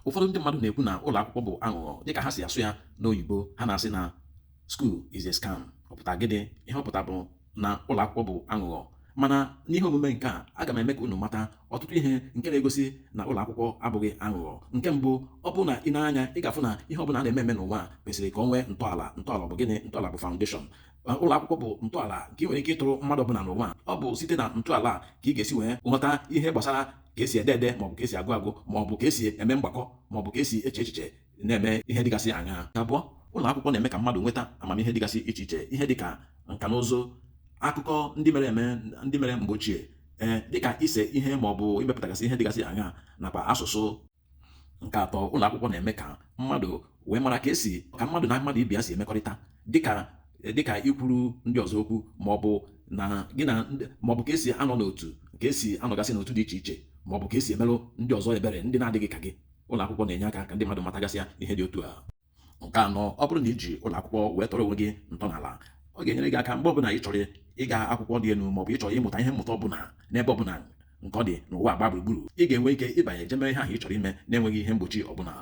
ụfọdụ ndị mmadụ na-ekwu na ụlọ akwụkwọ bụ aghụghọ dịka ha si asụ ya n'oyibo ha na-asị na school is a scam ọ pụta gịnị ihe ọ pụta bụ na ụlọ akwụkwọ bụ aghụghọ mana n'ihe omume nke a aga m eme ka unu mata ọtụtụ ihe nke na-egosi na ụlọ akwụkwọ abụghị aghụghọ nke mbụ ọ bụrụ na i nee anya ị ga-afụ na ihe ọbụla a na-eme eme n'ụwa kwesịrị ka o nwee ntọala ntọala bụ gịnị ntọala bụ foundation ụlọ akwụkwọ bụ ntọala nke ị nwere ike ịtọrọ mmadụ ọbụla n'ụwa ọ bụ site na ntọala ka ị ga-esi wee ghọta ihe gbasara ka esi ede ede maọbụ ka esi agụ agụ maọbụ ka esi eme mgbakọ maọbụ ka esi eche echiche na-eme ihe dịgasị aṅaa abụọ ụlọ akwụkwọ na-eme ka mmadụ nweta amamihe dịgasị iche iche ihe dịka nka na ụzụ akụkọ ndị mere eme ndị mere mgbe ochie ee dịka ise ihe maọbụ imepụtagasị ihe dịgasị aṅaa nakwa asụsụ nke atọ ụlọ akwụkwọ na-eme ka mmadụ wee mara ka esi ka mmadụ na mmadụ ibe ya si emekọrịta dịka dịka ikwuru ndị ọzọ okwu maọbụ na gị na maọbụ ka esi anọ n'otu ka esi anọgasị n'otu dị iche iche maọbụ ka esi emere ndị ọzọ ebere ndị na-adịghị ka gị ụlọ akwụkwọ na-enye aka ka ndị mmadụ matagasịa ihe dị otu a nke anọ ọ bụrụ na i ji ụlọ akwụkwọ wee tọrọ onwe gị ntọala ọ ga-enyere gị aka mgbe ọbụla ị chọrọ ịga akwụkwọ dị elu maọbụ ị chọrọ ịmụta ihe mmụta ọbụla n'ebe ọbụla nke ọ dị n'ụwa gbaa gburugburu ị ga-enwe ike ịbanye jee mee ihe ahụ ị chọrọ ime na-enweghị ihe mgbochi ọbụla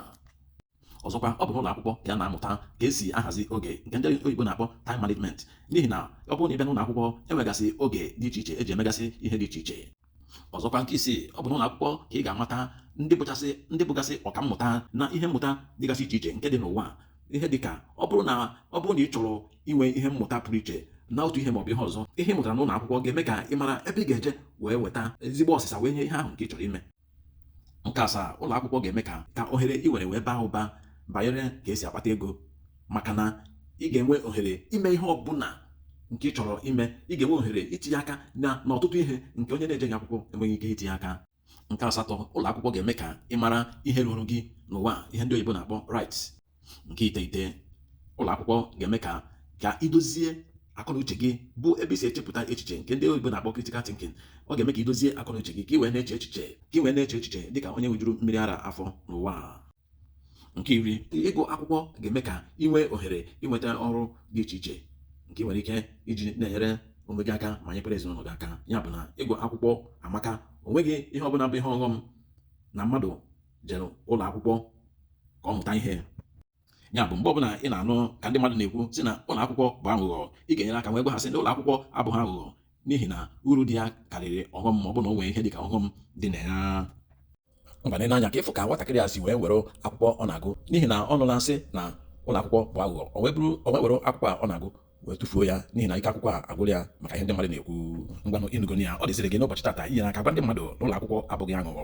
ọzọkwa ọ bụ n'ụlọ akwụkwọ ka a na-amụta ka esi ahazi oge nke ndị oyibo na-akpọ time management n'ihi na ọ bụrụ na ị bịa n'ụlọ akwụkwọ enwegasị oge dị iche iche eji emegasị ihe dị iche iche ọzọkwa nke isii ọ bụ n'ụlọ akwụkwọ ka ị ga-amata ndị bụchasị ndị bụgasị ọka mmụta na ihe mmụta dịgasị iche iche nke dị n'ụwa ihe dịka ọ bụrụ na ọ bụrụ na ị chọrọ inwe ihe mmụta pụrụ iche na otu ihe maọbụ ihe ọzọ ihe ị mụtara n'ụlọ akwụkwọ ga-eme ka ị mara ebe ị ga-eje wee weta ezigbo ọsịsa wee nye ihe ahụ nke ị chọrọ ime nke asaa ụlọ akwụkwọ ga-eme ka ka ohere ị nwere wee baa ụba banyere ka esi akpata ego maka na ị ga-enwe ohere ime ihe ọbụla nke ị chọrọ ime ị ga-enwe ohere itinye aka na n'ọtụtụ ihe nke onye na-ejeghị akwụkwọ enweghị ike itinye aka nke asatọ ụlọ akwụkwọ ga-eme ka ị mara ihe ruru gị n'ụwa ihe ndị oyibo na-akpọ rights nke iteghete ụlọ akwụkwọ ga-eme ka ka i dozie akọnuche gị bụ ebe i si echepụta echiche nke ndị oyibo na-akpọ critical thinking ọ ga-eme ka i dozie akọnuche gị ka ị wee na-eche echiche ka ị wee na-eche echiche dịka onye ṅụjuru mmiri ara afọ n'ụwa nke iri ịgụ akwụkwọ ga-eme ka ị nwee ohere inweta ọrụ dị iche iche nke ị nwere ike iji na-enyere onwe gị aka ma nyekwara ezinụlọ gị aka ya bụ na ịgụ akwụkwọ amaka o nweghị ihe ọbụla bụ ihe ọghọm na mmadụ jere ụlọ akwụkwọ ka ọ mụta ihe ya bụ mgbe ọbụla ị na-anụ ka ndị mmadụ na-ekwu sị na ụlọ akwụkwọ bụ aghụghọ ị ga-enyere aka wee gwa ha sị na ụlọ akwụkwọ abụghị aghụghọ n'ihi na uru dị ya karịrị ọghọm ma ọ bụ na o nwee ihe dị ka ọghọm dị na ya ngwa lee n'anya ka ị fụ ka nwatakịrị a si wee were akwụkwọ ọ na-agụ n'ihi na ọ nụla a sị na ụlọ akwụkwọ bụ aghụghọ o wee were akwụkwọ a ọ na-agụ wee tụfuo ya n'ihi na ike akwụkwọ a agwụrụ ya maka ihe ndị mmadụ na-ekwu ngwanụ ị nụgonị ya ọ dịziri gị n'ụbọchị tata inyere aka gwa ndị mmadụ na ụlọ akwụkwọ abụghị aghụghọ